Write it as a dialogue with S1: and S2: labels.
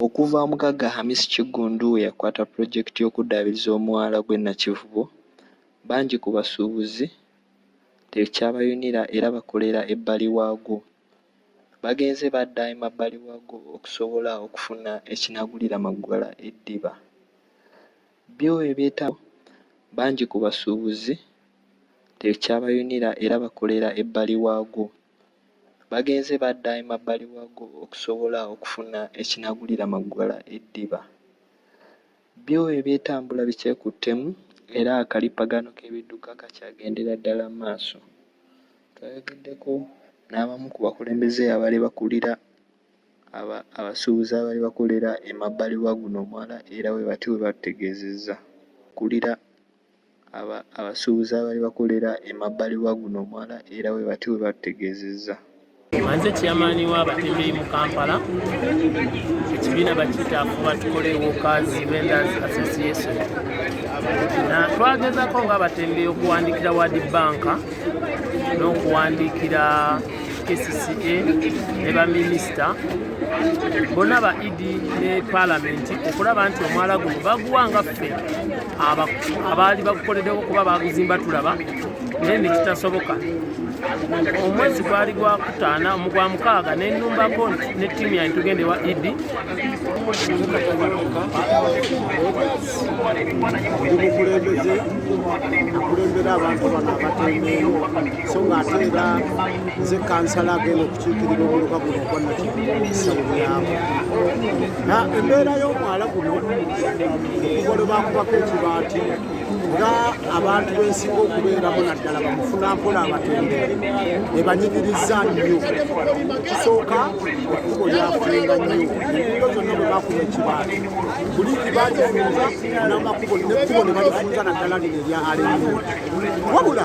S1: Okuva omugagga Hamis Kiggundu we yakwata pulojekiti y'okuddaabiriza omwala gw'e Nakivubo, bangi ku basuubuzi tekyabayunira era bakolera ebbali waagwo. bagenze badda emabbali waago okusobola okufuna ekinaagulira Maggala eddiba. Byo ebyetaago bangi ku basuubuzi tekyabayunira era bakolera ebbali waago. Bagenze badda emabbali waago okusobola okufuna ekinaagulira Maggala eddiba. Byo eby'etambula bikyekuttemu era akalippagano k'ebidduka kakyagendera ddala mu maaso. Twayogeddeko n'abamu ku bakulembeze abaali bakulira aba abasuubuzi abaali bakolera emabbali wa guno omwala era bwe batyo bwe batutegeezezza. Akulira. abasuubuzi abaali bakolera emabbali wa guno omwala era bwe batyo bwe batutegeezezza. Manze
S2: chairman wa batembeyi mu Kampala ekibiina bakiyita afuba tukole workers vendors association na twagezako nga abatembeyi okuwandikira wadi banka n'okuwandikira kcca ne baminisita bonna ba idi ne palamenti okulaba nti omwala guno baguwanga ffe abaali bagukoledewo kuba baguzimba tulaba naye nekitasoboka omwezi gwali gwakutaana mugwa mukaaga nenumbako ne tiimu yange tugende wa idi
S3: omukulembeze akulembera abantu bano abatembeewo so ngaate era nze kansala agenda okukiikirira omuluka guno ogwannakisawo lyabo embeera y'omwala guno okugolo bakubako ekibaati nga abantu bensinga okubeeramu naddala bamufuna mpola abatembeere ebanyigiriza nnyo ekisooka ekkubo lyafunga nnyo enkubo zonna bwe bakuba ekibaali buli kibaalifunza namakubo nekkubo ne balifunza naddala lino erya alemu wabula